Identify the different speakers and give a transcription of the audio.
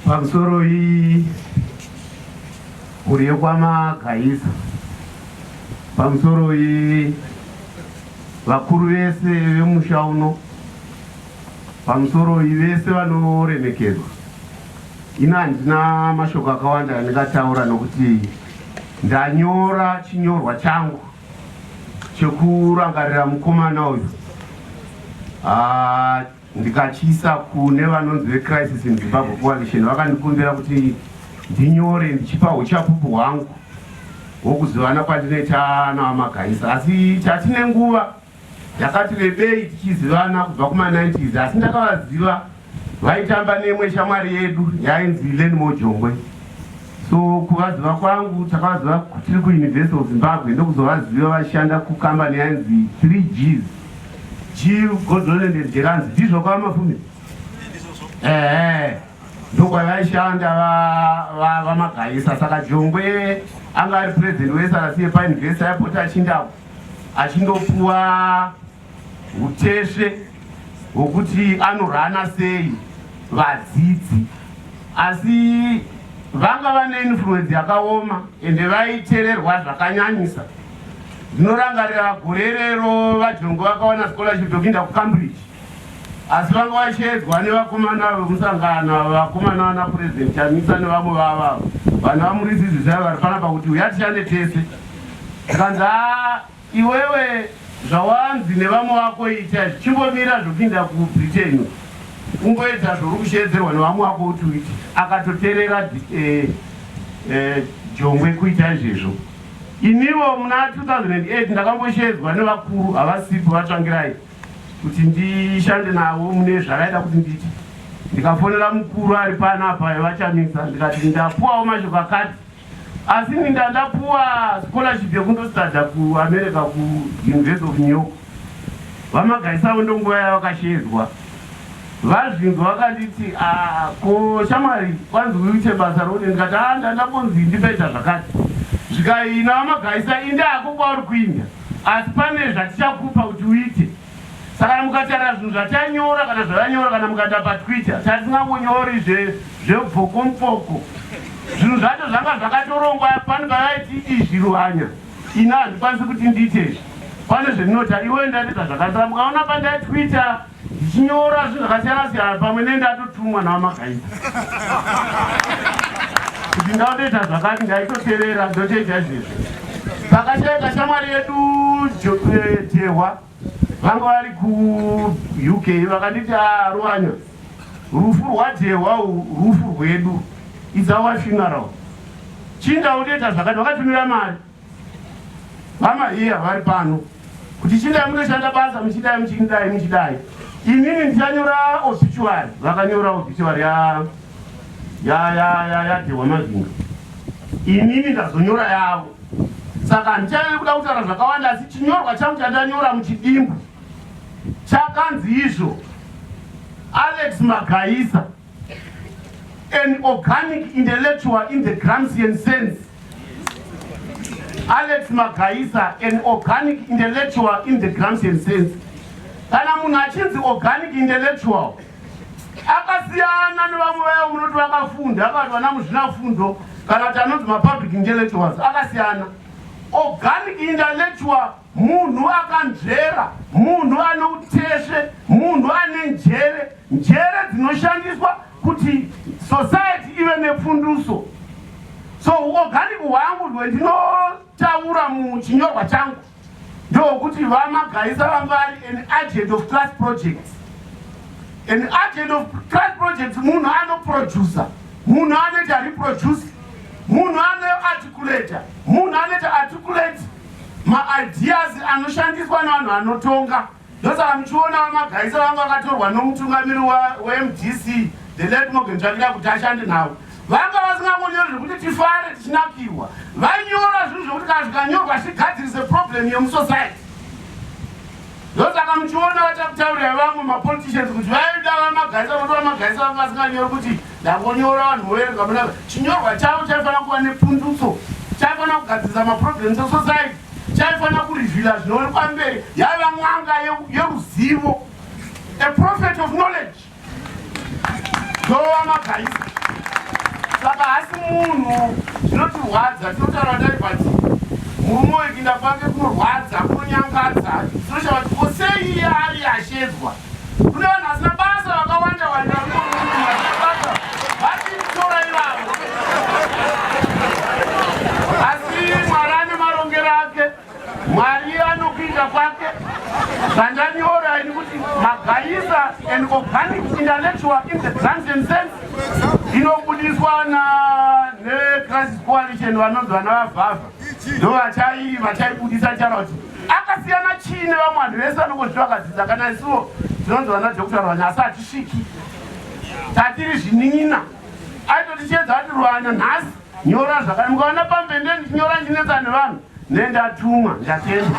Speaker 1: pamusoro iyi kuri yokwamagaisa pamusoro iyi vakuru vese vemusha uno pamusoro iyi vese vanoremekedzwa ino handina mashoko akawanda andingataura nokuti ndanyora chinyorwa changu chekurangarira mukomana uyu ah, ndikachiisa kune vanonzi vecrisis in zimbabwe coalition vakandikumbira kuti ndinyore ndichipa uchapupu hwangu hwokuzivana kwandinoita navamagaisa asi chatine nguva Ndakati rebei tichizivana kubva kuma 90s asi ndakavaziva vaitamba neimwe shamwari yedu yainzi Leni Mojongwe. So kuvaziva kwangu takavaziva tiri kuUniversity of Zimbabwe ndokuzovaziva vachishanda kukambani yainzi 3Gs. G Godland and Jeranzi ndizvo kwava mafumi? Ehe. Ndokwavaishanda vamagaisa saka Jongwe anga ari president weSRC yepaUniversity yapota achindapo. achindopuwa utesve hwokuti anorana sei vadzidzi asi vanga vane influence yakaoma ende vaitererwa zvakanyanyisa ndinorangarira gore rero vajongo vakawana scholarship yokupinda kucambridge Asi vanga vachiyedzwa nevakomana vemusangano ava vakomana vana President Chamisa nevamwe vavo avo vanhu vamuridzi izvi zvaiva vari panapa kuti huya tishande tese tikanzi haa iwewe zvawanzi nevamwe vako ita zvichimbomira zvokuinda kubritain kungoedza zvouri kusheedzerwa nevamwe wako kuti uiti akatoterera eh, eh, jongwe kuita izvezvo inivo muna 2008 ndakambosheedzwa nevakuru havasipo vatsvangirai kuti ndishande navo mune zvavaida kuti nditi ndikafonera mukuru ari pano apa vachamisa ndikati ndapuwawo mashoko akati asi ini ndandapuwa scholarship yekundostada kuamerica kuuniversity of new york vamagaisavo ndonguva yavakashedzwa vazvinzwa vakanditi ah, ko shamwari kwanzi uite basa rode ndikati a ah, ndandambonzi ndipaita zvakati zvikaina vamagaisa indako kwauri kuinda Asi pane zvatichakupa kuti uite. Saka kana mukataura zvinhu zvatanyora kana zvavanyora kana mukaenda paTwitter tasingangonyori zve zvebvokomfoko. Zvinhu zvacho zvanga zvakatorongwa pani pavaiti izvi ruhanya. Ini handikwanisi kuti ndiite izvi. Pane zvendinota iwe ndati zvazvakasara mukaona pandai Twitter Ndichinyora zvinhu zvakasiyana siyana pamwe ne ndatotumwa naMagaita kuti ndautoita zvakati ndaitoterera ndotoita izvezvi. Pakashaika shamwari yedu Jehwa eh, vanga vari kuUK vakanditi ah, Ruwanya, rufu rwaJehwa rufu rwedu, it's our funeral. Chinda utoita zvakati, vakatumira mari Mama hiya vari pano kuti chidai munoshanda basa muchidai muchidai muchidai inini ndichanyora obituary vakanyora obituary ya ya ya ya ya Dhewa Mazinga inini ndazonyora yavo saka handichanyanya kuda kutaura zvakawanda asi chinyorwa changu chandanyora muchidimbu chakanzi izvo Alex Magaisa an organic intellectual in the Gramscian sense. Alex Magaisa, an organic intellectual in the Gramscian sense. Kana munhu achinzi organic intellectual, akasiyana nevamwe vayo munoti vakafunda, akati vana muzvinafundo, kana kuti anonzi mapublic intellectuals, akasiyana. Organic intellectual Munhu akanzvera, munhu ane utesve, munhu ane njere, njere dzinoshandiswa kuti society ive nepfunduso. So organic hwangu hwendinotaura muchinyorwa changu ndokuti vamagaisa vanga vari an agent of class projects. An agent of class projects munhu anoproducer, munhu anoita reproduce, munhu anoarticulator, munhu anoita articulate Maideas anoshandiswa nevanhu vanotonga ndosaka muchiona vamagaisa vangu vakatorwa nomutungamiri wemdc the late Morgan Tsvangira kuti ashande navo vanga vasingangonyori zvekuti tifare tichinakirwa vainyora zvinhu zvekuti kana zvikanyorwa zvigadzirise problem yemusociety Ndosaka muchiona vachakutaurira vamwe mapoliticians kuti vaida vamagarisa kuti vamagarisa vanga vasinganyori kuti ndangonyora vanhu voverenga munaka. Chinyorwa chavo chaifanira kuva nepundutso, chaifanira kugadzirisa maproblems esociety, chaifanira kurevhila zvinoonekwa mberi. Yaiva n'anga yeruzivo, a prophet of knowledge. Ndoona guys. Saka hasi munhu zvinotirwadza tinotaura dai but murume wekinda kwake kunorwadza kunonyangadza tinoshava kuti ko sei iye ari ashedzwa kune vanhu vasina basa vakawanda wanda vanoaata vatitora ivavo asi mwari ane marongero ake Mwari anokuita kwake zvandanyora ini kuti magaisa and organic intellectual in the transient sense inobudiswa na necrisis coalition vanonzi vana vavhavha ndo vachai vachaibudisa chara kuti akasiyana chii nevamwe vanhu vese vanongozviti vakadzidza kana isuwo tinonzi vana doctor rwanya asi hatisviki tatiri zvinin'ina aitoti chiedza ati rwanya nhasi Nyora zvakare mukaona pambe ndiye ndichinyora ndinetsa nevanhu ndendatumwa ndatenda.